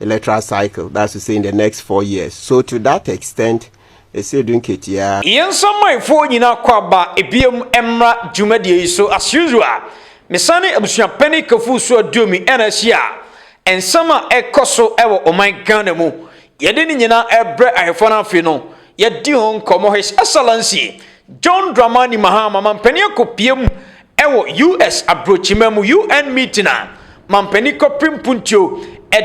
electoral cycle, that's to say in the next four years. So to that extent, Esedu Nketia. Yɛn samanfoɔ nyinaa kɔ aba ebiem mmra dwumadie yi so as usual. Mesane abusua panin Kafuu so Aduomi na ahyia nsɛm a ɛkɔ so wɔ ɔman Ghana mu. Yɛde ne nyinaa ɛbrɛ Ahefo no afe no yɛadi ho nkɔmmɔ His Excellency John Dramani Mahama Mampanin Akopie mu Ɛwɔ US abrɔkyima mu UN meeting a mampanin Kwapre Mpuntuo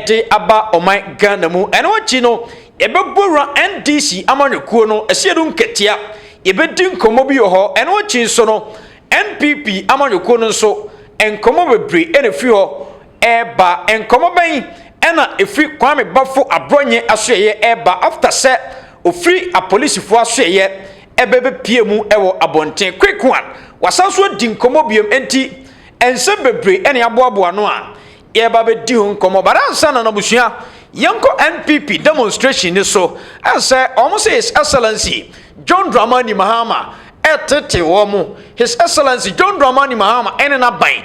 de aba ɔman Ghana mu. Ɛno akyi no, yɛbɛbɔ wura NDC amanyɔkuo no asiedum nkatia. Yɛbɛdi nkɔmmɔ bi wɔ hɔ. Ɛno akyi nso no, NPP amanyɔkuo no nso, nkɔmmɔ bebree na ɛfiri hɔ reba. Nkɔmmɔ bɛn na ɛfiri Kwame Bafo Abrɔnyɛ asoɛeɛ reba after sɛ ɔfiri apolisifoɔ asoɛeɛ? bɛbɛpue mu wɔ abɔnten. Quick one, wasan nso adi nkɔmmɔ biom nti nsɛm bebree ɛne aboaboa no a yɛba bɛdi ho nkɔmmɔ. But ansa na n'abusua yɛnkɔ NPP demonstration ni so ɛsɛ wɔn sɛ His Excellency John Dramani Mahama ɛtete wɔn. His Excellency John Dramani Mahama ɛne n'aban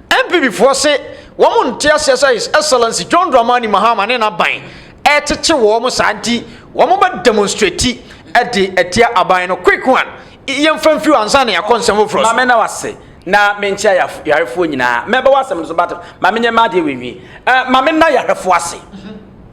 NPP foɔ se wɔn nte aseɛ sɛ His Excellency John Dramani Mahama ne n'aban rekyekye wɔn saa nti wɔn bɛ demonstrate de atia aban no. Quick one, yɛmfa mfiri hɔ ansa na yɛakɔ nsɛm foforɔ so. Mame na wase na menkyia yarefoɔ nyinaa. Mɛba w'asɛm no so but ma menyɛ m'adeɛ wei nwie. Eh, Mame na yarefoɔ ase,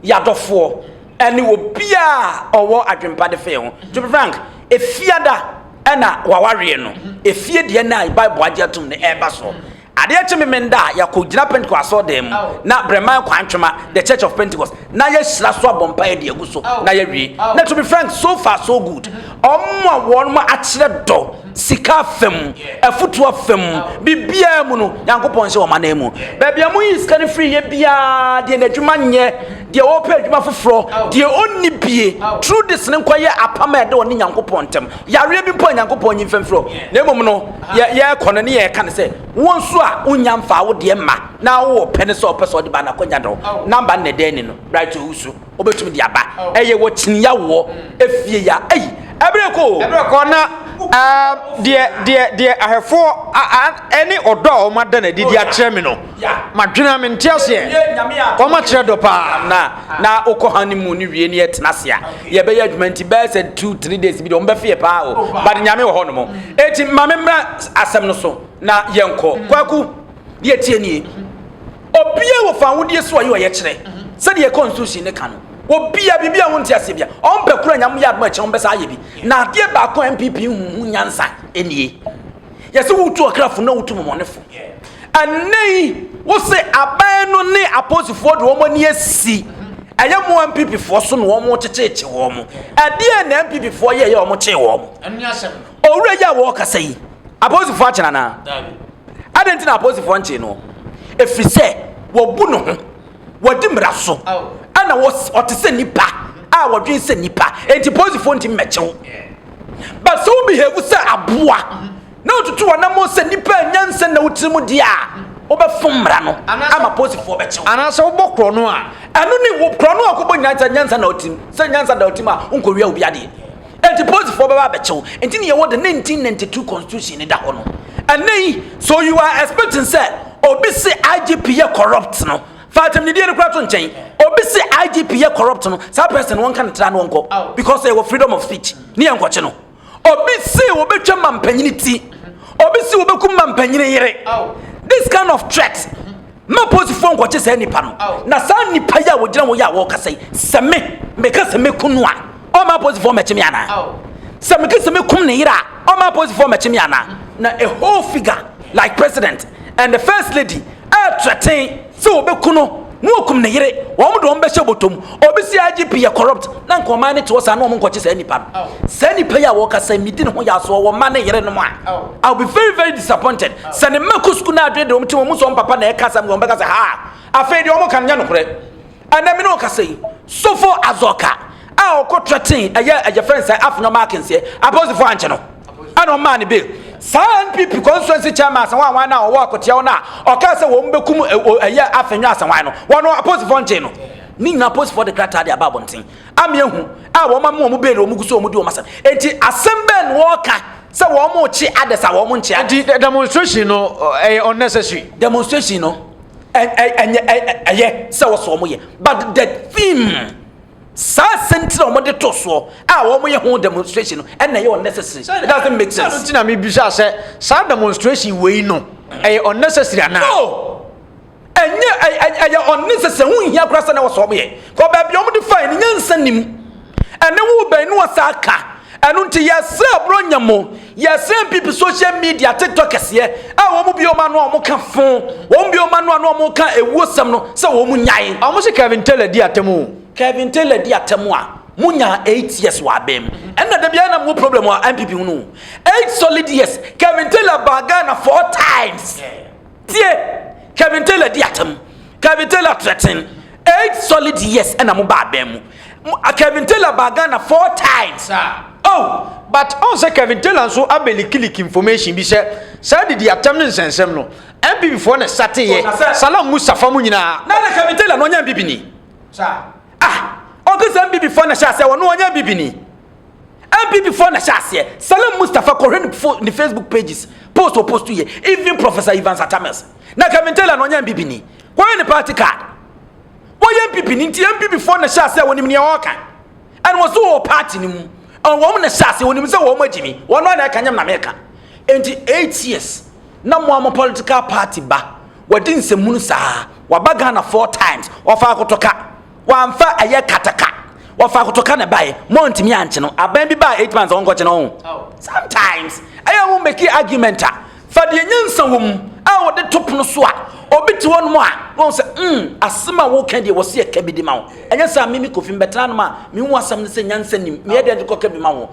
yadɔfoɔ, ɛne obiaa ɔwɔ adwempa de fee ho. To be frank, efiada, Ɛna wawareɛ no, efie deɛ no a Bible agye atom no ɛreba so. Adeɛ kye memenda a yɛakɔ gyina Pentecost asɔɔdan mu na Breman Kwantwema, The Church of Pentecost, na yɛahyira so abɔ mpaeɛ de agu so na yɛawie. Na to be frank, so far so good. Wɔn a wɔn akyerɛ dɔ, sika afa mu, afutuo afa mu, biribiara mu no, Nyankopɔn nhyɛ wɔn anan mu. Baabi a moyi sika no firi yɛ biara deɛ n'adwuma nyɛ. Deɛ ɔɔpɛ adwuma foforɔ, deɛ ɔnni bie, true this no nkɔ yɛ apam a ɛda ɔne Nyankopɔn ntɛm. Yareɛ bi mpo a Nyankopɔn nyi mfa mfiri hɔ, na mmom no yɛ yɛɛkɔ no ne yɛɛka no sɛ, wo nso a wo nnya mfaa wo deɛ mma, na wo ɔɔpɛ no sɛ ɔpɛ sɛ ɔde ba a na kɔ nya dɔ number no na ɛda ani no, Bright Owusu, ɔbɛtumi de aba, ɛyɛ wɔ Kyineya woɔ efie ya, ei ɛberɛ rekɔ oo. Ɛberɛ rekɔ na aah deɛ deɛ deɛ ahwɛfoɔ a a ɛne ɔdɔ a wɔn ada no adi de akyerɛ me no. M'adwene a mente aseɛ Wɔn akyerɛ dɔ paa na na wokɔ ha ne mu ne wie ne yɛtena ase a yɛbɛyɛ adwuma nti bɛyɛ sɛ two three days bi de wɔn bɛfeɛ paa o oh. but nyame wɔ hɔ nom eti ma me mmra asɛm no so na yɛnkɔ mm. kwaku deɛ tie nie mm-hmm. obia wɔ fa awodie so ɔyɛ ɔyɛ kyerɛ mm-hmm. sɛdeɛ constitution ne ka no obia biribi a wonte aseɛ bia ɔmpɛ kura nyame yɛ adoma kyerɛ wɔn bɛsa ayɛ bi na adeɛ baako a npp huhu nyansa nie Yɛse wotu ɔkrafo na wotu mɔmɔnefo. Ɛnnɛ yi, wose aban no ne apolisifoɔ de wɔn ani asi ɛyɛ mo MPPfoɔ so na wɔn kyekyeekye wɔn. Ɛdeɛ na MPPfoɔ yɛ yɛ wɔn kyee wɔn. Owura yi a wɔkasa yi, apolisifoɔ akyɛ no anaa? Adɛn nti na apolisifoɔ nkyee no? Ɛfiri sɛ wɔbu ne ho. wɔdi mmara so ɛna ɔte sɛ nipa a wɔdwen sɛ nipa enti polisifoɔ nti mmɛkyew but sɛ wo behave sɛ aboa na wotutu wɔnamo sɛ nipa anya nsɛ na wotiri mu deɛ a wobɛfo mmara no ama polisifoɔ bɛkyew anaasɛ wobɔ korɔ no a ɛno ne korɔ no a wokɔbɔ nyinaa sɛ nyansa na wotim sɛ nyansa da wotim a wonkɔwia obi adeɛ Enti polisifoɔ bɛba abɛkyɛ wo. Enti ne yɛwɔ the 1992 constitution ne da hɔ no. Ɛnɛ yi, so you are expecting sɛ obi se IGP yɛ corrupt no, fa atamnidie no kora to nkyɛn. Obi se IGP yɛ corrupt no, saa person no wɔnka ne tra no ɔnkɔ. Because yɛwɔ freedom of speech. Ne yɛ nkɔkye no. Obi se wɔbɛtwa mampanyini ti. Obi se wɔbɛku mampanyini yere. This kind of threat. ma apolisifoɔ nkɔkye saa nipa no na saa nipa yi a wɔgyina hɔ yi a wɔkasa yi sɛ me meka sɛ mɛku no a ɔma apolisifoɔ mɛkye me anaa sɛ meka sɛ mɛkum ne yere a ɔma apolisifoɔ mɛkye me anaa na a whole figure like president and the first lady ɛɛtrɛten sɛ wɔbɛku no na wɔkum ne yere wɔn de wɔn bɛhyɛ bɔtɔm Obi si IGP yɛ corrupt na nka ɔman no te hɔ saa na wɔn nkɔkye saa nipa no. Saa nipa yi a wɔkasa yi medi ne ho yɛ so ɔwɔ mma ne yere nom a I will be very very disappointed sɛ ne mma kɔ sukuu na adwene de wɔn ti wɔn mu sɛ wɔn papa na ɛka asɛm wɔn bɛka sɛ haa afei deɛ wɔn ka no nyɛ nokorɛ. Ɛnɛ me ne ɔkasa yi Sofo Azɔka a ɔkɔ threaten ɛyɛ ɛyɛ fɛn sɛ Afenyo Markins yɛ apolisifoɔ ankye no. ɛna ɔmaa no bail saa npp constituency chairman asawan wan no a ɔwɔ akoteɛw no a ɔkaa sɛ wɔn bɛkum ɛyɛ afenwa asawan no wɔn aposifoɔ nkyɛn no ne nyinaa aposifoɔ de krataa de aba abɔnten ame ahu a wɔn ama wɔn bail wɔn gu so wɔn di wɔn asɛm eti asɛm bɛn na wɔka sɛ wɔn kye adɛs a wɔn nkyɛn eti demonstration no ɛyɛ unnecessary demonstration no ɛyɛ sɛ wɔsɔ wɔn yɛ but the theme. Saa asɛm ti na wɔn de to soɔ a wɔn yɛ ho demonstration no ɛna ɛyɛ unnecessary. It doesn't make sense. Sɛ ti na mi bisa sɛ saa demonstration wɔ yi no ɛyɛ unnecessary anaa? No, ɛnyɛ ɛyɛ unnecessary ho nhia koraa sɛ na wɔsɔ wɔn yɛ. Kɔ baabi a wɔn de fa yɛ no nyansa nim. Ɛne wo bɛn ne wɔsa aka. Ɛno nti yɛsrɛ Buronya mo, yɛsrɛ npp social media tiktok kɛseɛ a wɔn bue wɔn ano a wɔka fo, wɔn bue wɔn ano a na wɔka ɛwuo sɛm no sɛ wɔn nyae. Ɔmo se Kevin Taylor di atɛm o. Kevin Taylor di atɛm a, mo nyaa eight years wɔ abɛn mu. Ɛna da biara na mo wɔ problem wɔ npp ho no o. Eight solid years, Kevin Taylor baa Ghana four times. Tie! Kevin Taylor di atam. Kevin Taylor threaten. Eight solid years na mo baa bɛn mu. Kevin Taylor baa Ghana four times. Oh, but ɔn sɛ Kevin Taylor nso abɛlikiliki information bi sɛ saa didi atam ne nsɛnsɛm no, NPP foɔ na ɛsateyɛ, Salam Mustafa mo nyinaa. Na na Kevin Taylor no ɔnyɛ NPP ni. Ah! Ɔpɛ sɛ MPP foɔ na hyɛ aseɛ wɔn wɔnyɛ MPP ni. MPP foɔ na hyɛ aseɛ. Salam Mustafa kɔhwɛ ne fo ne Facebook pages post wɔ post yɛ even Professor Ivan Satamels. Na Kevin Taylor na ɔnyɛ MPP ni. Kɔhwɛ ne party card. Wɔyɛ MPP ni nti MPP foɔ na hyɛ aseɛ wɔn nim nea ɔɔka. Ɛna wɔn so wɔ party ni mu. Wɔn na hyɛ aseɛ wɔn nim sɛ wɔn agyi ni. Wɔn na ɛka nyɛm na meka. Nti eight years na mo a mo political party ba. Wadi nsɛmhunu saa. Waba Ghana four times. Ɔfaa kotoka. Wamfa ɛyɛ kataka. Ɔfaa kotoka na ɛbaeɛ. Moantumi ankye no. Aban bi baa eight months a wɔnkɔkye no ho. Sometimes ɛyɛ wɔn meki argument a fa deɛ nyansa wɔ mu a wɔde to pono so a obi te hɔ nom a na wɔn sɛ mm asɛm a wɔka deɛ wɔsi ɛka bi de ma wo. Ɛnyɛ sɛ a mimi kofi mbɛtena nom a mehu asɛm no sɛ nyansa nim meyɛ deɛ de kɔka bi ma wo.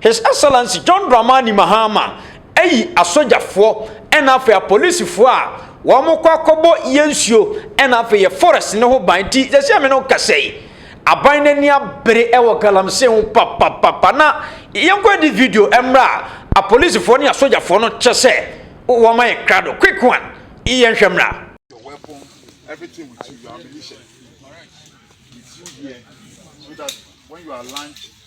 His Excellency John Dramani Mahama ayi asogyafoɔ ɛna afei apolisifoɔ a wɔn kɔ akɔbɔ yɛ nsuo ɛna afei yɛ forest ne ho ban ti sɛsɛ me no kasa yi aban n'ani abere ɛwɔ galamsey ho papapapa na yɛnkɔ adi video ɛmra apolisifoɔ ne asogyafoɔ no kyɛ sɛ wɔn ayɛ krado quick one yɛnhwɛ mra. everything with you, your ammunition with you here, so that when you are launched,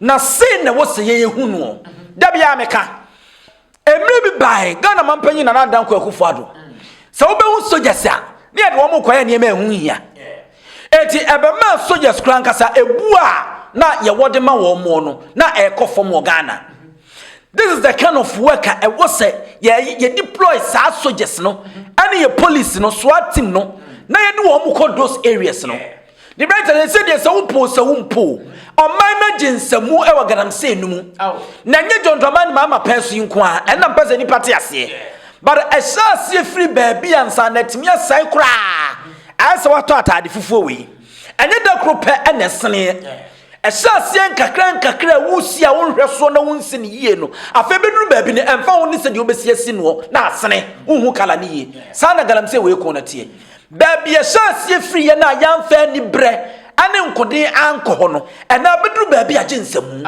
Na sei na ɛwɔ sɛ yɛyɛ hu noɔ. Da biara meka, mmerɛ bi bae, Ghana mampanyin Nana Dankwa Akufo Addo, sɛ wobɛhu soldiers a, ne yɛde wɔn kɔyɛ nneɛma ɛho nhia. Eti ɛbɛmaa soldiers koraa ankasa ebu a na yɛwɔ de ma wɔn moɔ no, na ɛrekɔ fam wɔ Ghana. This is the kind of work a ɛwɔ sɛ yɛ yɛ deploy saa soldiers no, ɛne yɛ police no, SWAT team no, na yɛde wɔn kɔ those areas no. Ne bɛyɛ tɛ sɛ deɛ sɛ wopo sɛ wo mpo ɔman no agye nsamu wɔ galamsey no mu na nyɛ John Dramani Mahama pɛn so yi nko a ɛnna mpɛ sɛ nnipa te aseɛ but ɛhyɛ aseɛ firi baabi ansa na atumi asɛe koraa ayɛ sɛ watɔ ataade fufuo wei ɛnyɛ da koro pɛ ɛna ɛseneɛ Ɛhyɛ aseɛ nkakrankakra a wosi a wonhwɛ soɔ na wonsi no yie no, afei bɛduru baabi no ɛmfa ho ne sɛdeɛ wobɛsi asi noɔ na asene, wonhu kala no yie. Saa na galamsey wei ko no teɛ. Baabi a ɛhyɛ aseɛ firi yɛn a yɛamfa aniberɛ ne nkoden ankɔ hɔ no, ɛnna abɛduru baabi a gye nsamu.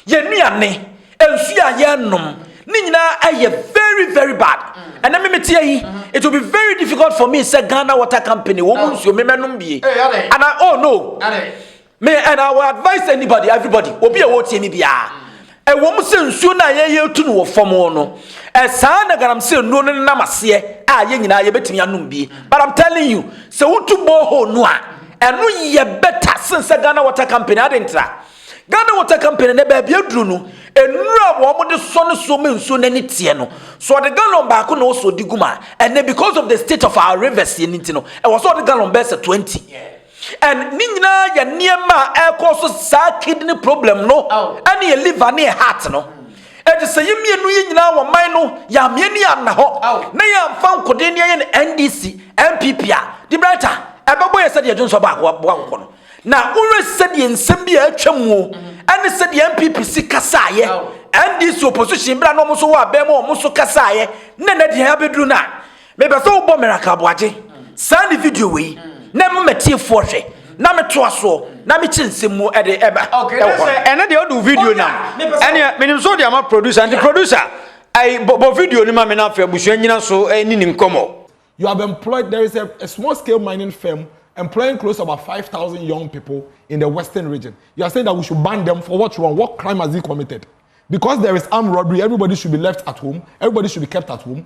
Yɛn nnuane, nsuo a yɛnom, ne nyinaa ayɛ very very bad. Ɛnɛ me meteɛ yi, it will be very difficult for me sɛ Ghana Water Company wɔn mu nsuo me mɛnom bie. Ana oh no. Me and I will advise anybody everybody obi a wɔretie me biara ɛwɔ mu sɛ nsuo no a yɛyɛ tu no wɔ fam no ɛsaa na galamsey nnuro no nam aseɛ a yɛn nyinaa yɛbɛtumi anom bi but I'm telling you sɛ wotu borehole no a ɛno yɛ bɛta sen sɛ Ghana Water Company ade ntra Ghana Water Company na baabi aduru no nnuro a wɔn de sɔ no so ma nsuo no ani teɛ no so ɔde gallon baako na ɔsɔ di gu ma ɛnɛ because of the state of our rivers yɛn nti no ɛwɔ sɛ ɔde gallon bɛsɛ 20 And ne nyinaa yɛ nneɛma a ɛkɔ so saa kidney problem no ɛne yɛ liver ne yɛ heart no ɛti sɛ yɛ mmienu yi nyinaa wɔ man no yɛ ameɛ ne yɛ anna hɔ na yɛ anfa nkoden ne yɛ ne NDC NPP a de brɛta ɛbɛbɔ yɛ sɛdeɛ dwonsɔ baako aboa nkokɔ no na wowɛ sɛdeɛ nsɛm bi a atwa muo ɛne sɛdeɛ NPP si kasaayɛ NDC opposition bra na ɔmo so wɔ abɛn mu ɔmo so kasaayɛ na na deɛ abɛduru no a Mepɛ sɛ wobɔ Miracle Aboagye saa ne video wei na ɛma m'atiefoɔ hwɛ na metoa soɔ na mekyɛ nsɛm mu de ɛba okay, ɛwɔ hɔ. Ɛne deɛ wode wo video nam ɛneɛ menim so wode ama producer nti producer ɛyi bɔ video no ma me na afei abusua nyina so ɛni ne nkɔmmɔ. You have employed, there is a, a small scale mining firm employing close to about 5,000 young people in the western region. You are saying that we should ban them for what wrong? What crime has he committed? Because there is armed robbery, everybody should be left at home, everybody should be kept at home.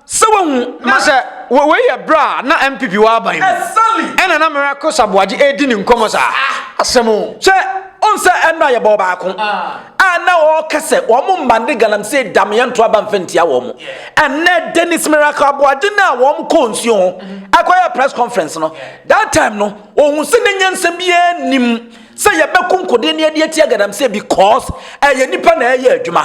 Sɛ wahu ma. Na sɛ wei yɛ berɛ a na MPP wɔ aban mu. Exactly. Ɛna na Mayor Kosa Boagye redi ne nkɔmmɔ saa. Ah. Asɛm o. Hwɛ, wohu sɛ ɛno a yɛbɔ baako. Ah. A na ɔreka sɛ wɔn mma ne galamsey dam yɛnto aba mfa ntia wɔn. Yeah. Ɛnɛ Dennis Miracle Aboagye no a wɔn kɔɔ nsuo ho mm-hmm. ɛkɔyɛ press conference no. Yeah. That time no, ɔhu sɛ n'anya nsɛm biara nim. sɛ yɛbɛko nkode ne ɛde atia galamsey because ɛyɛ nipa na ɛyɛ adwuma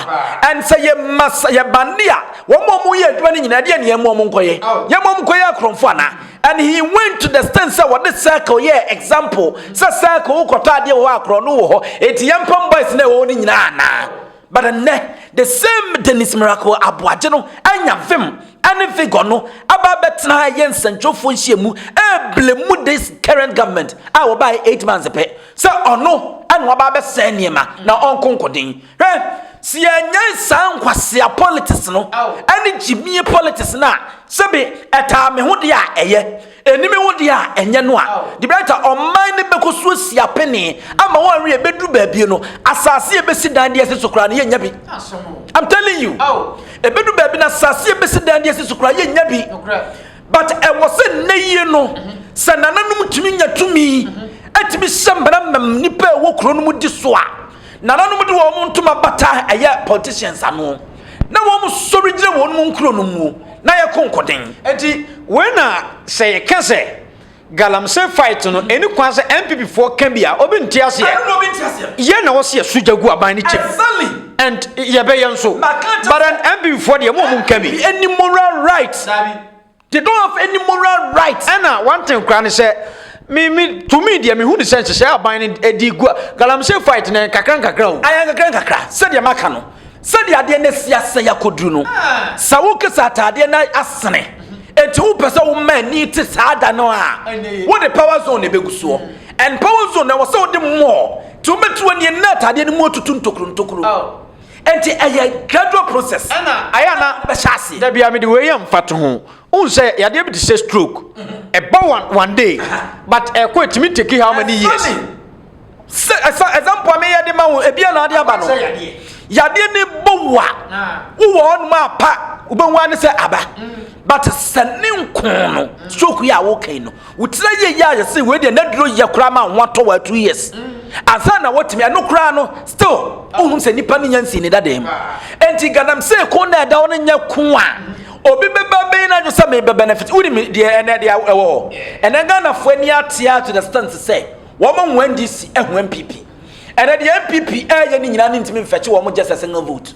and sɛ yɛma yɛ bande a wɔn a wɔyɛ adwuma no nyinaa ɛdeɛ ne yɛn wɔn nkɔyɛ yɛn wɔn nkɔyɛ akorɔmfo ana and he went to the stand sɛ wɔde circle yɛ example sɛ circle wokɔtɔ adeɛ wɔ hɔ akorɔ no wɔ hɔ eti yɛn pam boys na ɛwɔ hɔ no nyinaa anaa But ɛnnɛ, the same Dennis Miracle Aboagye no anya vim ne vigor no aba abɛtena ɛyɛ nsɛntwerɛfoɔ nhyiamu ɛreble mu this current government a wɔbaeɛ eight months pɛ sɛ ɔno ɛna waba abɛsɛe nneɛma na ɔnko nkoden hwɛ sɛ yɛnyɛn saa nkwasea politics no ɛne gyimie politics no a sɛbe ɛtaa me ho deɛ a ɛyɛ Anim wo deɛ a ɛnyɛ no a, the better ɔman no bɛkɔ so asi apene ama wɔn awie bɛduru baabie no, asase a ɛbɛsi dan de asi so koraa no yɛnnya bi. I'm telling you, ɛbɛdu baabi no asase a ɛbɛsi dan de asi so koraa yɛnnya bi. But ɛwɔ sɛ nnɛ yie no, sɛ nananom tumi nya tumi, ɛtumi hyɛ mmara ma nnipa a ɛwɔ kuro no mu di so a, Nananom de wɔn ntoma bata ɛyɛ politicians ano, na wɔn sɔre gyina wɔn mu nkuro no mu na yɛ ko nkoden. Enti wei na sɛ yɛ ka sɛ galamsey fight no ɛni kwan sɛ NPP foɔ ka bi a obi nte aseɛ. Ɛno na obi nte aseɛ. Yɛ na wɔsi yɛ so gya gu aban no kyɛm. Exactly. And yɛ bɛ yɛ nso. But NPP foɔ deɛ mo a mo nka bi. NPP ɛni moral right. Dabi. They don't have any moral right. Ɛna wanten koraa ne sɛ me me to me deɛ mehu ne sɛ nhyehyɛe aban no ɛde gu a galamsey fight na nkakra nkakra o. Ayɛ nkakra nkakra sɛdeɛ maka no sɛdeɛ adeɛ no asi asɛe akɔduru no sɛ woka sɛ ataadeɛ no asene enti wopɛ sɛ woma ani te saa da no a wode power zone na ɛbɛgu soɔ and power zone na ɛwɔ sɛ wode mmɔɔ nti wobɛtiri wɔ neɛ na ataadeɛ no mu atutu ntokuro ntokuro. Enti ɛyɛ gradual process. Ɛna ayɛ a na bɛhyɛ aseɛ. Da bia mede wei yɛ mfatoho. Wohu sɛ yadeɛ bi te sɛ stroke. Ɛba one one day but ɛkɔ ɛtumi take how many years? Ɛfa ne sɛ example a meyɛ de ma wo ebia na ade aba no. Yadeɛ no bɔ wo a wowɔ hɔnom a pa wobɛhu ara ne sɛ aba but sɛ ne nko no stroke yi a woka yi no. Wotra yie yɛ a yɛse wei deɛ n'aduro yɛ koraa ma ho atɔ wɔ two years ansa na wɔtumi ɛno koraa no still wohunu sɛ nipa no nya nsii ne dadaa mu enti ganam se ko na ɛda hɔ no nyɛ ko a obi bɛba bɛyi n'adwo sɛ mebɛ benefit wonim deɛ ɛnɛ deɛ ɛwɔ hɔ ɛnɛ ghanafoɔ ani atea to the stand sɛ wɔn ho ndc ɛho mpp ɛnɛ deɛ mpp ɛyɛ ne nyinaa ne ntumi mfɛkye wɔn gyɛ sɛ single vote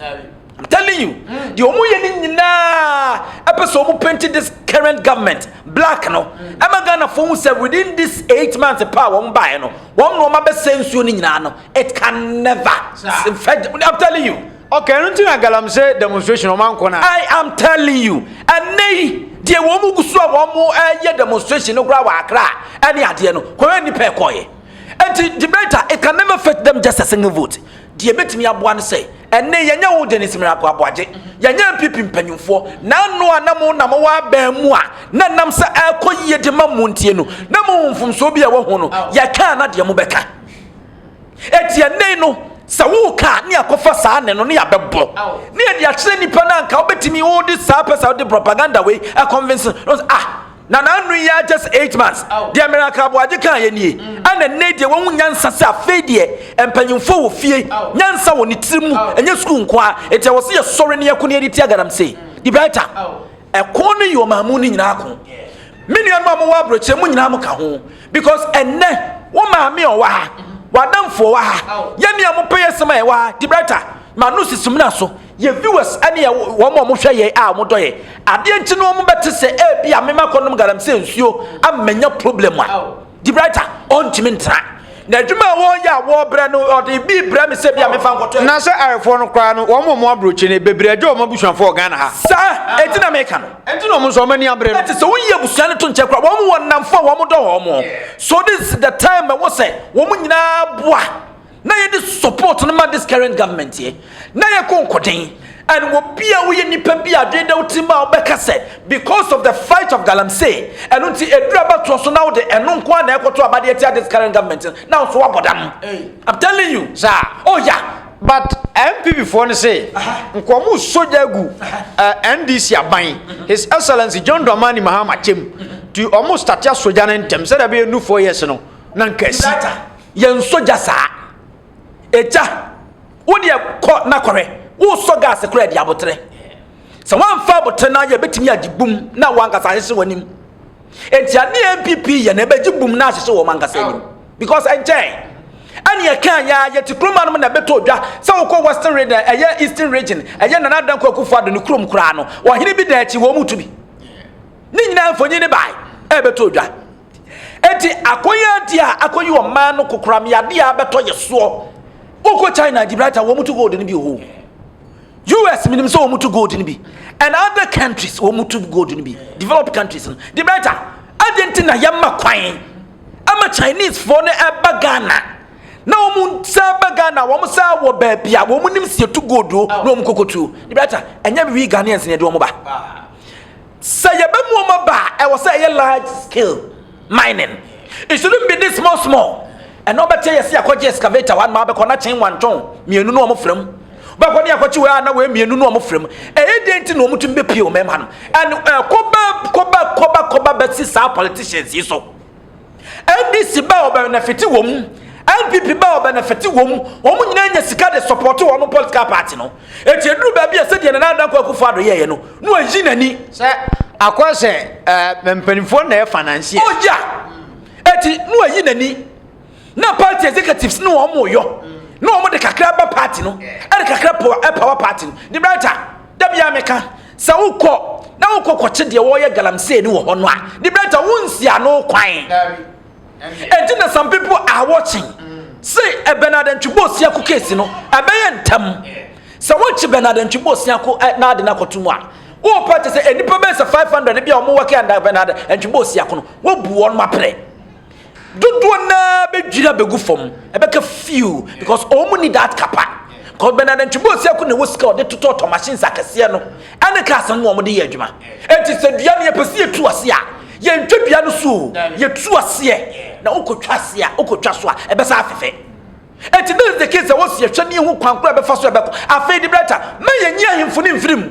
I'm telling you, mm. the omu yɛ ne nyinaa ɛpɛ sɛ ɔmu painting this current government black no ɛma Ghana fo hu sɛ within this eight months pa a wɔn baeɛ no wɔn na wɔn abɛsɛ nsuo ne nyinaa no it can never fɛ I'm telling you. Okay, ɛno nti na galamsey demonstration ɔmo ankɔ na. I am telling you ɛnɛ yi deɛ wɔn mu gu so a wɔn mo ɛyɛ demonstration no koraa wɔ akra ɛne adeɛ no kɔyɛ nipa ɛkɔyɛ nti debater it can never fit them just a single vote. Deɛ ɛbɛtumi aboa no sɛ, ɛnne yɛnyɛ wo dene sɛ miracle aboagye, yɛnyɛ npp mpanyinfoɔ, naano a na mo na mowɔ abɛn mu a na nam sɛ ɛrekɔ yie de ma mo ntie no, na mo hu mfomsoɔ bi a ɛwɔ ho no, yɛka a na deɛ mo bɛka. Ɛti ɛnne no, sɛ wo ka a, ne yɛakɔfa saa nne no, ne yɛabɛbɔ, ne yɛde akyerɛ nipa no anka wobɛtumi wode saa pɛ sɛ wode propaganda wei ɛconvince no, ah, Na n'ano yi ara just eight months. Deɛ Miracle Aboagye kaeɛ nie. Ɛna nnɛ deɛ wahu nyansa sɛ afei deɛ mpanyinfoɔ wɔ fie. Nyansa wɔ ne tiri mu, ɛnyɛ sukuu nko ara. Enti ɛwɔ sɛ yɛsɔre na yɛko na yɛde tia galamsey. The Brighter. Ɛko no yɛ ɔmaa mu no nyinaa ko. Me nuanom a mowɔ aburokyire mo nyinaa mo ka ho. Because ɛnnɛ wo maame a ɔwɔ ha, w'adamfo a ɔwɔ ha, yɛn nua mo pɛyɛ sɛm a ɛwɔ ha, The Brighter, m'ano sisi mina so. Yɛ viewers ɛne yɛ wɔn a wɔhwɛ yɛ a wɔn dɔ yɛ adeɛ nti no wɔn bɛte sɛ ɛɛbi a mema kɔnom galamsey nsuo ama manya problem a di brighter ɔntumi ntra na adwuma a wɔyɛ a wɔbrɛ no ɔde bi brɛ me sɛ bi a mefa nkɔtɔ na sɛ arefoɔ no koraa no wɔn wɔn aburokyi no bebree agya wɔn abusuafoɔ ghana ha saa ɛti na meka no ɛti na wɔn nso wɔn ani abere no ɛti sɛ woyi abusua no to nkyɛn koraa wɔn wɔn namfo a wɔn dɔ wɔn so this is the time ɛwɔ sɛ wɔn nyinaa boa na yɛde support no ma this current government yɛ na yɛkɔ nkɔden and wɔ bi a woyɛ nipa bi a adwene da wo tirim a wobɛka sɛ because of the fight of galamsey ɛno nti ɛduru abatoɔ so na wode ɛno nko a na ɛkɔto abadeɛ atia this current government na nso wabɔ dam I'm telling you saa oh ya but MPP foɔ no se nkɔmu sogya agu NDC aban His Excellency John Dramani Mahama kyɛm nti ɔmo statea sogya no ntɛm sɛdeɛ ɛbɛyɛ nu four years no na nka asi Yɛnsɔ gya saa. Egya, wo deɛ kɔ na kɔhwɛ. Wosɔ gas koraa de abotere. Sɛ woamfa abotere no ayɛ bɛtumi agye bum na wankasa ahyehye w'anim. Enti adeɛ NPP yɛ no ɛbɛgye bum na ahyehye wɔn ankasa anim. Because ɛnkyɛn. Ɛne ɛkaa yɛa yɛte kuroma nom na ɛbɛtɔ dwa sɛ wokɔ western region ɛyɛ eastern region ɛyɛ Nana Addo Dankwa Akufo Addo ne kurom koraa no ɔhene bi da akyi wɔn mu tu bi. Ne nyinaa mfonyin ne bae ɛbɛtɔ dwa. Enti akɔyɛdi a akɔyi ɔman no kokoram yade a abɛtɔ yɛ soɔ. Wokɔ China Gibraltar wɔn to gold no bi wɔ hɔ. US menim sɛ wɔn to gold no bi and other countries wɔn to gold no bi developed countries no Gibraltar adi nti na yɛma kwan ama Chinese foɔ no ɛba Ghana na wɔn sɛ ɛba Ghana wɔn sɛ wɔ baabi a wɔn nim sɛ yɛtu gold o na wɔn kɔkɔtuo Gibraltar ɛnyɛ we Ghanaians na yɛde wɔn ba. Sɛ yɛbɛ mu wɔn aba a, ɛwɔ sɛ ɛyɛ large scale mining. It shouldn't be this small small. Ɛna ɔbɛteɛ yɛse yɛakɔgye excavator wɔ ha nom abɛkɔ na kyen wantɔn mmienu no wɔn frɛ mu. Wobɛkɔ ne yɛakɔkye wei a na wei mmienu no wɔn frɛ mu. Ɛyɛ deɛ nti na wɔn tumi bɛpie wɔn mmarima nom. And ɛkɔba kɔba kɔba kɔba bɛsi saa politicians yi so. NDC bɛ ɔbɛ nɛfete wɔn mu NPP bɛ ɔbɛ nɛfete wɔn mu wɔn nyinaa nya sika de sɔpɔto wɔn political party no eti eduru baabi a sɛdeɛ Nana Adankwa Akufo Addo yɛɛyɛ no na wayi n'ani sɛ akɔ sɛ ɛɛ mpanimfoɔ na ɛfa nanseɛ oh ya eti na wayi n'ani na party executives ne wɔn yɔ na wɔn de kakra ba party no ɛde kakra power party no de branta dabi a meka Sɛ wokɔ na wokɔ kɔkye deɛ wɔreyɛ galamsey no wɔ hɔ no a, the better wonsi ano kwan. Enti na some people are watching. Mm. Se ɛbɛn adantwibɔ osiako case no ɛbɛyɛ ntɛm. Sɛ wɔkye bɛn adantwibɔ osiako eh, na ade no akɔto mu a, wɔpɛ te sɛ nnipa bɛyɛ sɛ 500 bi a wɔwɔ kɛ bɛn adantwibɔ osiako no, wɔbu wɔn maprɛ. Dodoɔ no ara bɛdwiri abɛgu fam, ɛbɛka few because wɔn mu ni that kapa. Because Bernard Antwibu Osiaku na ɛwɔ sika ɔde totɔ tɔ machines akɛseɛ no ɛne cars no na wɔn de yɛ adwuma. Eti sɛ dua no yɛpɛ sɛ yɛtu ase a, yɛntwa dua no so o, yɛtu aseɛ na wokɔtwa aseɛ a, wokɔtwa so a, ɛbɛsan afefɛ. Eti this is the case ɛwɔ sɛ yɛhwɛ na yɛhu kwan korɔ a ɛbɛfa so a ɛbɛkɔ. Afei de Brighter, mma yɛnyi ahemfo no mfiri mu.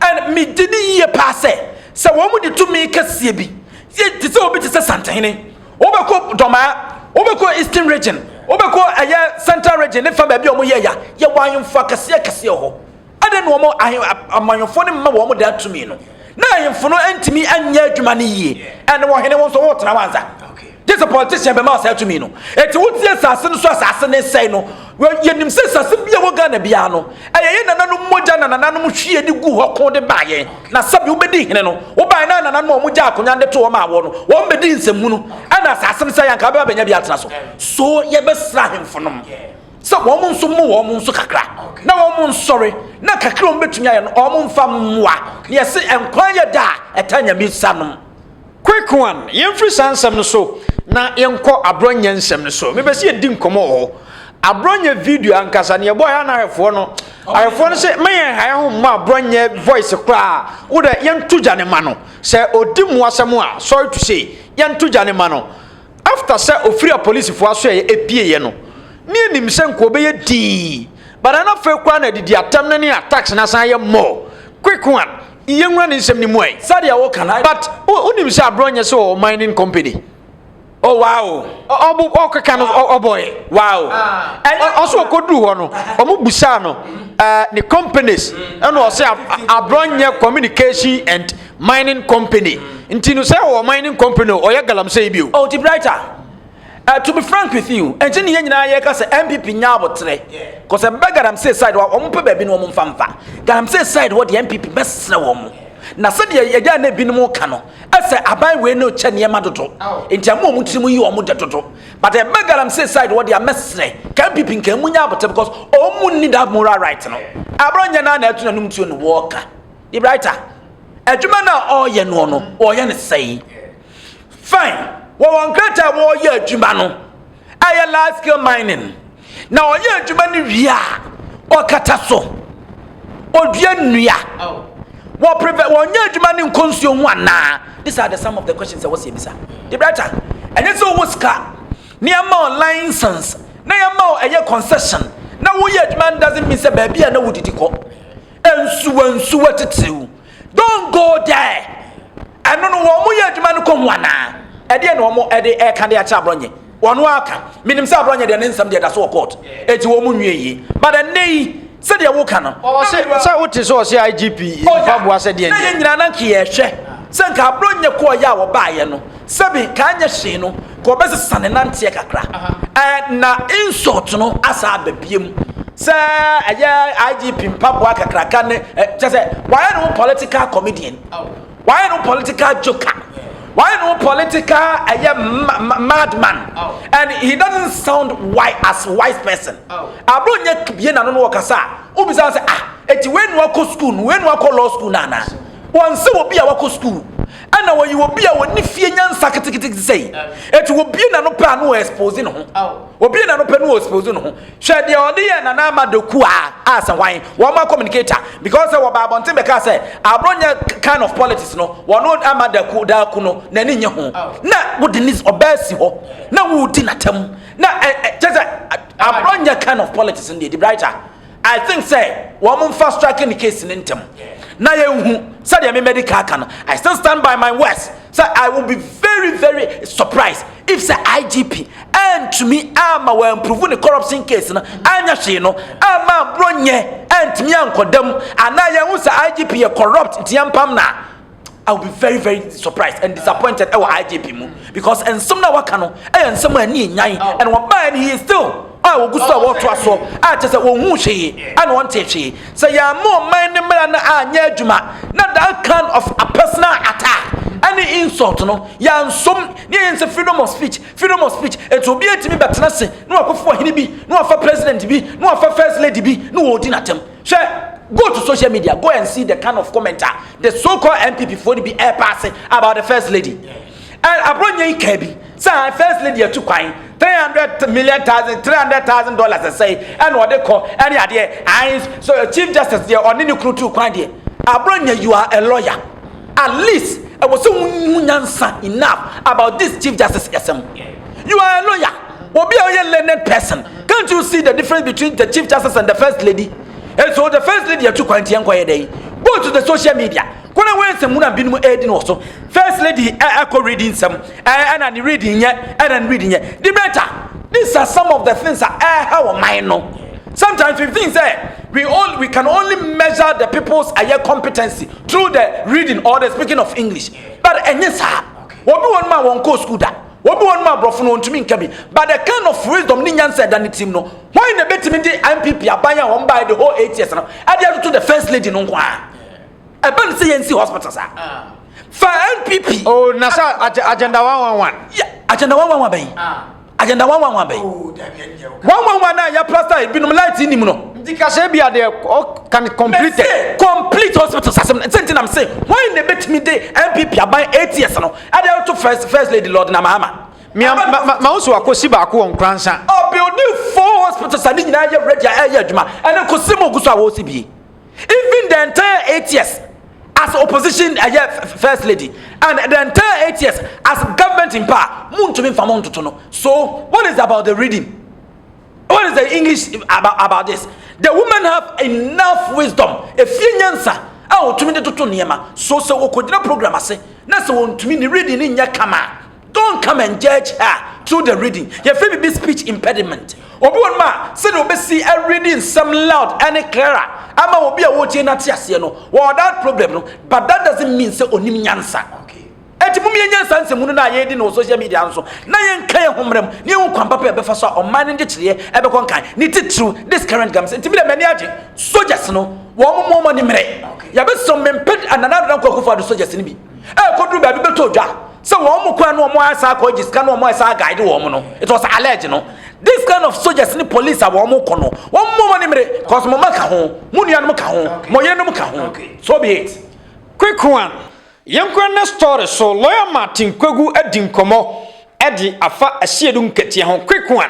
And megye di yie paa sɛ, sɛ wɔn de tumi kɛseɛ bi, yɛ te sɛ obi te sɛ Santehene, wobɛkɔ Dɔmaa, wobɛkɔ Eastern Region, wobɛkɔ ɛyɛ Central Region ne fa baabi a wɔn yɛ ya, yɛ wɔ ahemfo akɛseɛ akɛseɛ hɔ. Adɛn na wɔn ahe amanyɔfoɔ no mma wɔn daa tumi no? Na ahemfo no ntumi nyɛ adwuma no yie, and wɔhene wɔn nso wɔtena hɔ ansa. Gye sɛ politician bɛma saa tumi no. Eti wotie nsase no so asase ne nsɛe no. Yɛnim sɛ nsase bi a ɛwɔ Ghana biara no, ɛyɛ yɛn nananom mogya na nananom hwie de guu hɔ ko de baa yɛn. Na sɛbe wobɛdi hene no, wobaeɛ na nananom a wɔgyaa akonwa no de too hɔ maa woɔ no, wɔn bɛdii nsɛmhunu. Ɛna asase no sɛeɛ a, anka wobɛba abɛnya bi atena so. So yɛbɛsra ahemfo nom sɛ wɔn nso mmo wɔn nso kakra na wɔn nsɔre, na kakra a wɔbɛtumi ayɛ no wɔn mfa mmoa. Na yɛse nkwa yɛ da a ɛtaa nyame nsa nom. Quequan, yɛmfiri saa nsɛm no so na yɛnkɔ aborɔnyɛ nsɛm no so. Mepɛ sɛ yɛdi nkɔmmɔ wɔ hɔ. Aborɔnyɛ video ankasa no yɛbɔɔ yɛ na ahwɛfoɔ no ahwɛfoɔ no sɛ ma yɛn ha yɛ ho mma aborɔnyɛ voice koraa wo dɛ yɛnto gya ne ma no sɛ ɔdi mu asɛm a sorry to say yɛnto gya ne ma no after sɛ ɔfiri apolisifoɔ aso ɛyɛ ɛpieeɛ no ne anim sɛ nka ɔbɛyɛ dii bana no afei koraa na adidi atɛm no ne attacks no asan yɛ mmɔ quick one Yɛnwura ne nsɛm no mu ɛ. Sɛdeɛ wo ka no but wo nim sɛ abrɔ nyɛ sɛ ɔwɔ mining company. Oh wow. Ɔbo ɔkeka no ɔbɔɛ. Wow. Ɔso ɔkɔduru hɔ no ɔmo busaa no ɛɛ ne companies ɛna ɔsɛ abrɔ nyɛ communication and mining company nti no sɛ ɔwɔ mining company ɔyɛ galamsey bio. Oh ti brighter. Eh to be frank with you ɛnkyɛ ne yɛn nyinaa yɛka sɛ NPP nya abotrɛ cause ɛbɛ galamsey side hɔ a wɔn pɛ baabi no wɔn mfa mfa galamsey side hɔ deɛ NPP bɛsrɛ wɔn na sɛdeɛ yɛgya na ebinom ka no ɛsɛ aban wei no kyɛ nneɛma dodo nti ɛmo wɔn tirim yi wɔn dɛ dodo but ɛbɛ galamsey side hɔ deɛ mɛsrɛ ka NPP nka emu nya abotrɛ because wɔn ni that moral right no aburo nyɛ na na ɛto na num tuo no wɔɔka debraita adwuma na ɔɔyɛ noɔ no ɔɔyɛ ne sɛyi. Fine, wɔ wɔn krataa a wɔreyɛ adwuma no, ɛyɛ large scale mining. Na ɔyɛ adwuma no wie a, ɔkata so. Odua nnua. Wɔ prevent wɔnyɛ adwuma no nkɔ nsuo ho anaa? These are the some of the questions a wɔsi ebisa. De brata, ɛnyɛ sɛ owó sika, ne yɛn ma ɔ license, na yɛn ma ɔ ɛyɛ concession, na woyɛ adwuma no doesn't mean sɛ baabi a na wodidi kɔ. Nsuwa nsuwa titiriw. Don't go there! Ɛno no wɔn mo yɛ adwuma no kɔ mu anaa? Ɛdeɛ na wɔn ɛde ɛka de akyerɛ aborɔnye. Wɔn aka. Menim sɛ aborɔnye deɛ ne nsɛm deɛ da so wɔ court. Eti wɔn mo nwie yie. But ɛnɛ yi sɛdeɛ woka no. Ɔse sɛ wote sɛ ɔse IGP mpaboa sɛ deɛ ndeɛ. Na yɛn nyinaa na nka yɛhwɛ sɛ nka aborɔnye kɔɔ yɛ a wɔbaayɛ no. Sɛbi nka anyɛ hwee no, nka ɔbɛsesa ne nanteɛ kakra. Ɛɛ na insult no asan aba biam sɛ ɛyɛ IGP mpaboa kakraka ne ɛ kyɛ sɛ wayɛ ne ho political comedian, wayɛ ne ho political joker, wayɛ ne ho political ɛyɛ madman and he doesn't sound wise as wise person. Abro nyɛ bie n'ano no ɔkasa a wobisa sɛ ah eti wei na wakɔ school no wei na wakɔ law school no anaa? Wɔnse obi a wakɔ school. Ɛna ɔyɛ obi a ɔni fie nyansa keteketeke sɛi. Ɛti wɔbie n'ano pɛ a na ɔɛspose ne ho. Wɔbie n'ano pɛ na ɔɛspose ne ho. Hwɛ deɛ ɔde yɛɛ Nana Ama Doku a asɛ hwan? Wɔn ma communicate a. Because sɛ wɔbaa abɔnten bɛkaa sɛ aborɔ nyɛ kind of politics no, wɔno Ama Daku, Daaku no, n'ani nye ho. Na wode ne ɔbaa si hɔ na woredi n'atam. Na ɛ, ɛ, kyɛ sɛ aborɔ nyɛ kind of politics no deɛ, ɛdi brighter. I think sɛ wɔn mfa strike ne case ne ntɛm na yɛn hu sɛdeɛ me mɛdi kan aka no I still stand by my words sɛ I will be very very surprised if sɛ IGP ɛntumi ama wɔn improve ne corruption case no anya hwee no ama aburo nyɛ ɛntumi ankɔda mu anaa yɛn hu sɛ IGP yɛ corrupt nti yɛn pam na. I will be very very surprised and disappointed ɛwɔ IGP mu because nsɛm na waka no ɛyɛ nsɛm a ɛni enyan oh. and wɔn baa no he is still a wɔgu so a wɔreto aso a kyɛ sɛ wɔn hu hwee ɛna wɔn te hwee sɛ yɛn ama ɔman ne mmara no anyɛ adwuma na that kind of a personal attack ɛne insult no yɛn nsom ne yɛn sɛ freedom of speech freedom of speech etu obi etimi bɛtena se na wakɔfo ɔhene bi na wafa president bi na wafa first lady bi na wɔredi n'atɛm. Hwɛ, go to social media, go and see the kind of comment a the so called NPP foɔ no bi ɛrepaase about the first lady. Ɛ aborɔnyɛ yi kaa bi sɛ ah, first lady atu kwan three hundred million thousand three hundred thousand dollars ɛsɛe ɛna ɔde kɔ ɛne adeɛ ayi so chief justice deɛ ɔne ne kunu tu kwan deɛ aborɔnyɛ you are a lawyer. At least ɛwɔ sɛ wohu nyansa enough about this chief justice yɛsɛm. You are a lawyer. Obi a ɔyɛ learned person. Can't you see the difference between the chief justice and the first lady? And so the first lady atu kwan tiɛ nkɔyɛ dɛn? Go to the social media. Kɔnɛ wɔn nsɛm mu na binom ɛredi no wɔ so. First lady ɛkɔ reading nsɛm ɛna ne reading nyɛ ɛna ne reading nyɛ. The better. These are some of the things a ɛha wɔ man no. Sometimes we think sɛ we, all, we can only measure the people's ɛyɛ competency through the reading or the speaking of English. But enye saa. Obi won ma won ko school da. Obi won ma brofo no ontumi nka bi. But the kind of wisdom ne nyansa ɛda ne tirim no, hwan na betumi de NPP aban a wɔn bae the whole eight years no ɛde atoto the first lady no nko a? Ɛbɛ ne sɛ yɛnsi hospital saa. Ah. Fa NPP. Oh, na sɛ agenda 111. Yeah, agenda 111 bɛn. Ah. Agenda wanwanwa bɛn? Oh, wanwanwa na yɛ plaster ebinom light nim no. Nti ka sɛ bi adeɛ can complete. Mese complete hospital sasem sɛ nti nam se wɔn na ebetumi de NPP aban eight years no ɛde ato first first lady Lord na Mahama. Mia ma ma ma nso akosi baako wɔ nkransa. Ɔbuilding four hospitals a ne nyinaa yɛ ready a ɛyɛ adwuma ɛne kɔsi mu ogu so a wɔsi bie. even the entire eight years as opposition ɛyɛ eh, first lady and the entire eight years as government in power mo ntumi nfa mo ntoto no so what is about the reading what is the english about, about this the women have enough wisdom efie nyansa a wɔtumi de toto nneɛma so sɛ wɔkɔgyina program ase na sɛ wɔntumi ne reading ne nyɛ kama Don't come and judge her through the reading. Yɛfrɛ biribi speech impediment. Obi wɔ nom a sɛdeɛ ɔbɛsi readi nsɛm loud ne clearer ama obi a ɔretie no ate aseɛ no, wɔwɔ that problem no, but that doesn't mean sɛ ɔnim nyansa. Enti mom yɛnyɛ nsa nsɛmhunu no a yɛredi no wɔ social media no so na yɛnka yɛn ho mmara mu na yɛhu kwan papa a ɛbɛfa so a ɔman no nkyekyereɛ ɛbɛkɔ nkan, ne titiriw this current government. Enti medeɛ m'ani agye soldiers no, wɔn mmoa wɔn ani mmere. Yɛbɛsrɛ mo mempɛ Nana Addo Dankwa Akufo-Addo soldiers no bi. ɛkɔduru baabi bɛtɔ dwa sɛ wɔn mo kwan no wɔn ayɛ saa akɔ agye sika no wɔn ayɛ saa guide wɔn no it was alleged no this kind of soldiers ne police a wɔn kɔ no wɔn mo wɔn nimire cause mo ma ka ho mo nuanom ka ho mo yerenom ka ho so be it. quick one yɛnkɔ ne story so lawyer martin kwagu adi nkɔmɔ ɛde afa asiedu nkatia ho quick one.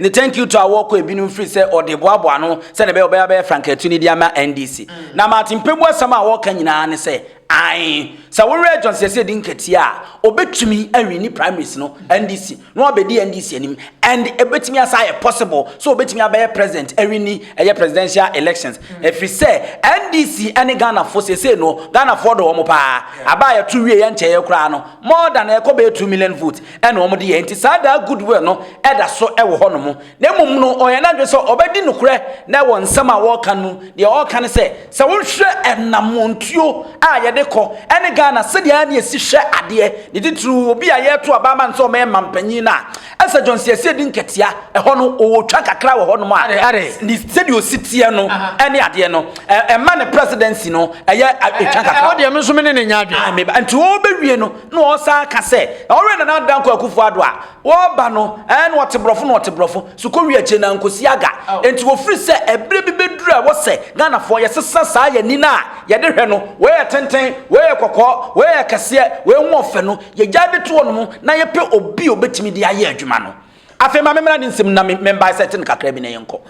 Ne thank you to a wɔkɔ ebinom firi sɛ ɔde boaboa ano sɛdeɛ ɛbɛyɛ ɔbɛyɛ abɛyɛ frankatu no de ama NDC. Mm. Na Martin Pebu asɛm a wɔka nyinaa ne sɛ ae sɛ wowerɛ John Sese di nkatia a ɔbɛtumi awi ne primaries no NDC na wabɛdi NDC anim and ɛbɛtumi asa ayɛ possible so ɔbɛtumi abɛyɛ president awi ni ɛyɛ presidential elections mm. ɛfiri sɛ NDC ɛne Ghanafoɔ sese no Ghanafoɔ dɔ wɔn paa aba a yɛto wie yɛnkyɛeɛ koraa no more than ɛkɔ bɛyɛ 2 million votes ɛna wɔn de yɛ nti saa daa goodwill no ɛda so ɛwɔ hɔ nom na mmom no ɔyɛ n'adwene sɛ ɔbɛdi nokorɛ na ɛwɔ nsɛm a wɔreka no deɛ ɔreka ne sɛ sɛ wohwɛ ɛnamɔntuo a yɛde kɔ ɛne Ghana sɛdeɛ ɛne ɛsi hwɛ adeɛ ne titiriw obi a yɛreto aba ama no sɛ ɔmɛyɛ mampanyin no a ɛsɛ Johnson ɛsɛ ɛdi nkatia ɛhɔ no ɔwɔ twa kakra wɔ hɔ nom a ne sɛdeɛ ɔsi teɛ no ɛne adeɛ no ɛma ne presidency no ɛyɛ ɛtwa kakra ɛwɔ deɛ me nso me ne ne nya adwene nti wɔbɛwie no Na ɔsan ka sɛ, Ɔwɛn Nana Dankwa Akufo-Addo a, wɔba no, ɛɛ, na ɔte borɔfo na ɔte borɔfo, so kowie akyire no ankosi aga. Enti wɔfiri sɛ ɛberɛ bi bɛduru a ɛwɔ sɛ Ghanafoɔ yɛsesa saa yɛn ani no a yɛde hwɛ no, wei yɛ tenten, wei yɛ kɔkɔɔ, wei yɛ kɛseɛ, wei ho ɔfɛ no, yɛgyae de to hɔnom na yɛpɛ obi a ɔbɛtumi de ayɛ adwuma no. Afei ma memmra ne nsam na me, me mbisect no kakra bi na yɛnkɔ.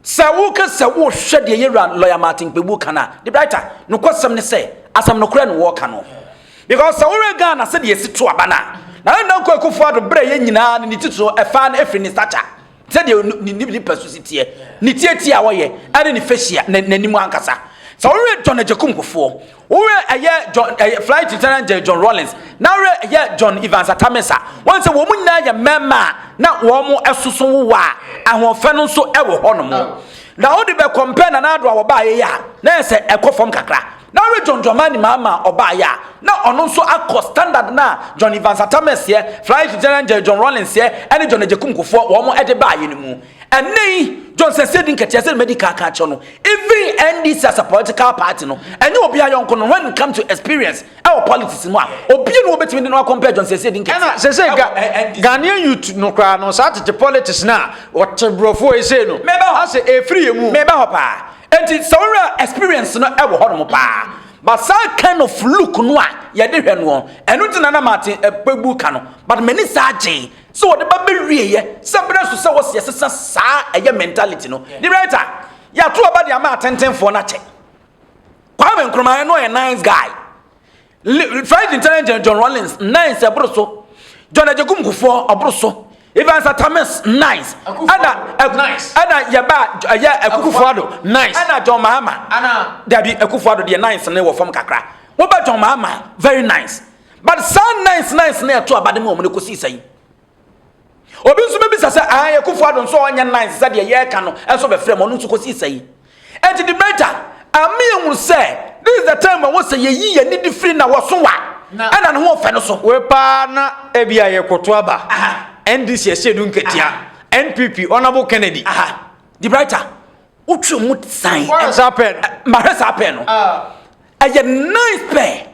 Sɛ woka sɛ wohwɛ deɛ yɛwura lɔya Martin Kpebu ka no a, De Brighter, nokwasɛm ne sɛ, asɛm nokorɛ na wɔreka no. Because sɛ wohwɛ Ghana sɛdeɛ yɛsi to aba no a, Nana Dankwa Akufo Addo berɛ a ɛyɛ nyinaa no ne titiriw ɛfaa no firi ne stature, sɛdeɛ ne nipasu si teɛ, ne tietie a ɔyɛ, ne ne facial, n'anim ankasa. Sɛ wohwɛ John Agyekum Kufuor, Wo werɛ ɛyɛ John ɛyɛ eh, flight lieutenant J. John Rawlings na werɛ ɛyɛ John Evans Atamesa wɔn sɛ wɔn mu nyinaa yɛ mmarima a na wɔn ɛsoso wowa a ahoɔfɛ no nso ɛwɔ hɔ nom na wode bɛ kɔmpɛ na n'ado a wɔbaa yɛ a na yɛ sɛ ɛkɔ fam kakra na werɛ John Dramani Mahama ɔbaa yɛ a na ɔno nso akɔ standard na John Evans Atamesa yɛ flight lieutenant J. John Rawlings yɛ ɛne John Agyekum Kufoɔ wɔn ɛde baa yɛ no mu ɛnɛ yi john sɛsɛ di nkɛtɛ sɛ mɛdi kaka kyɛ no even ndc as a political party no ɛnyɛ obi ayɔnko no when it come to experience ɛwɔ politics mu a obi no obetumi de no akɔmpɛ john sɛsɛ di nkɛtɛ ɛna sɛsɛ ga ghanaian youth no koraa no saa tete politics no a wɔte borɔfoɔ yi sei no asɛ ɛfiri yɛ mu meba hɔ paa enti sɛ wowura experience no ɛwɔ hɔ nom paa but saa kind of look no a yɛde hwɛ no ɛno nti na na mate ɛpɛbu ka no but m'ani saa gyee Sɛ wɔde ba bɛwieɛ sɛ berɛ nso sɛ wɔsi ɛsesa saa ɛyɛ mentality no ne writer yɛato aba de ama atentenfoɔ no akyɛ Kwame Nkrumah ɛno ɔyɛ nice guy French intelligence John Rawlings nice ɛboro so John Agyekum Kufuor ɔboro so Evans Atamis nice ɛna ɛna yɛba ɛyɛ Akufo Addo nice ɛna John Mahama dabi Akufo Addo deɛ nice ne wɔ fam kakra wɔba John Mahama very nice But saa nice nice no ɛto aba de ma wɔn no kɔsii sɛn? Obi nso bɛbisa sɛ ae Akufo Addo nso ɔnyɛ nice sɛdeɛ yɛreka no nso bɛfrɛ mu ɔno nso kɔsii sɛn? Ɛnti debater ama yɛhunu sɛ this is the time ɛwɔ sɛ yɛyi yɛn ani de firi na wɔso wa ɛna ne ho ɔfɛ no so. Wei paa na ebi a yɛkoto aba NDC ɛhyɛ du nketea NPP Honourable Kennedy. Debater. wotwe mu san ɛhwɛ saa pɛɛ no mahwɛ saa pɛɛ no ɛyɛ nice pɛɛ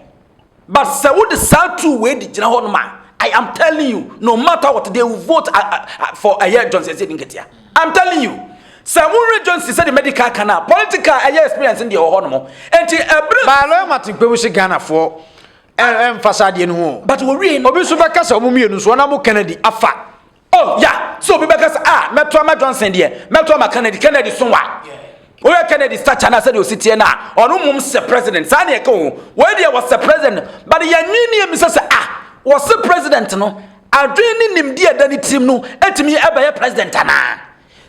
but sɛ wode saa two wei di gyina hɔ nom a i am telling you no matter what they will vote uh, uh, uh, for ɛyɛ johnson sɛ di nketea i'm telling you sɛ wohwɛ johnson sɛ de medical ka no a political ɛyɛ experience deɛ wɔ hɔ nom ɛnti ɛbere baaloyɛ matekpɛ wo se ghanafoɔ ɛmfa saa deɛ no ho but wɔwie obi nso bɛka sɛ ɔmo mmienu nso ɔna mo kennedy afa Oh, ya, sɛ obi bɛka sɛ, ah, mɛto ama Johnson deɛ, mɛto ama Kennedy, Kennedy so wa. Woyɛ Kennedy stature no a sɛdeɛ ɔsi teɛ no a, ɔno mmom sɛ president, saa ne ɛka ho. Wei deɛ wɔsɛ president, but yɛn nwi ne yɛmisa sɛ, ah, wɔse president no, adwene ne nimdeɛ ɛda ne tirim no, ɛtumi ɛbɛyɛ president anaa?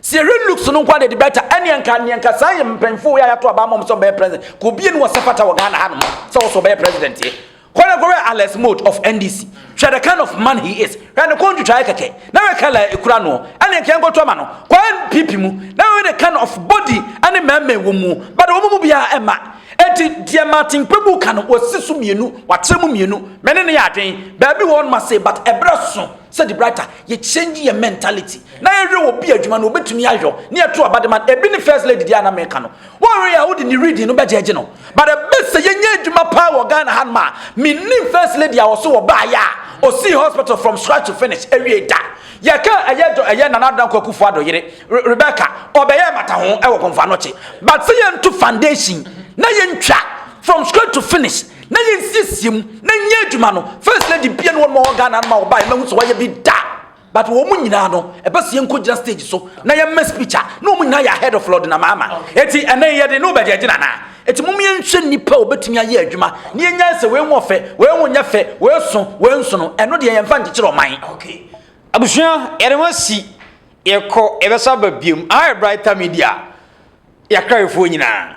Sɛ yɛhwɛ looks no nko a deɛ de bɛta, ɛneɛ nka, neɛ nka saa yɛ mpanyinfoɔ yɛ a yɛato aba ama wɔn sɛ wɔbɛyɛ president, ka obie ne wɔsɛ fata wɔ Ghana ha nom sɛ wɔsɛ wɔbɛyɛ president yɛ. Kɔ na kɔhwɛ Alex Mott of NDC. Hwɛ the kind of man he is. Hwɛ ne kɔn ntwitwaeɛ kɛkɛ. Na hwɛ colour a ɛkura noɔ. Ɛne nka yɛnkɔto ama no. Kɔ NPP mu na hwɛ the kind of body ne mmɛɛmmɛɛ wɔ muo. But wɔn mu biara ɛmma. Enti deɛ Martin Kpebu ka no, wasi so mmienu, wakyerɛ mu mmienu. Me ne no yɛ adwene. Baabi wɔ hɔ nom asei but ɛberɛ so sɛ De Brighter yɛ change yɛn mentality na yɛhwɛ obi adwuma no ɔbɛtumi ayɔ na yɛto aba de ma no. Ɛbi ne First Lady deɛ a na meka no. Wɔnwere a wode ne reading no bɛgyɛgye no but the best sɛ yɛnyɛ adwuma paa wɔ Ghana hanom a mennim first lady a ɔso wɔbaeɛ a ɔsii hospital from scratch to finish awiei da. Yɛka ɛyɛ dɔ ɛyɛ Nana Addo Dankwa Akufo Addo yere Re Rebecca ɔbɛyɛɛ mmataho wɔ Pomfa Anokye but sɛ yɛnto foundation na yɛntwa from scratch to finish na yɛnsiesie mu na nyɛ adwuma no first lady bia ne wɔnom a wɔ Ghana hanom a wɔbaeɛ mahu sɛ wɔayɛ bi da. But wɔn mu nyinaa no, ɛbɛ sɛ yɛnkɔ gyina stage so na yɛmmɛ speech a, na wɔn mu nyinaa yɛ ahead of Lord Namaama. Eti ɛnɛ yi yɛde ne wobɛ gyina gyina anaa? Eti mom yɛnhwɛ nnipa a wɔbɛtumi ayɛ adwuma na yɛnyae sɛ wei nwɔ fɛ, wei nwo nyɛ fɛ, wei so, wei nso no, ɛno deɛ yɛmfa nkyekyere ɔman. Okay. Abusua, yɛde ho asi, yɛkɔ, yɛbɛsa aba biom. Aha yɛ Brighter Media, Yɛakra-yefoɔ nyinaa.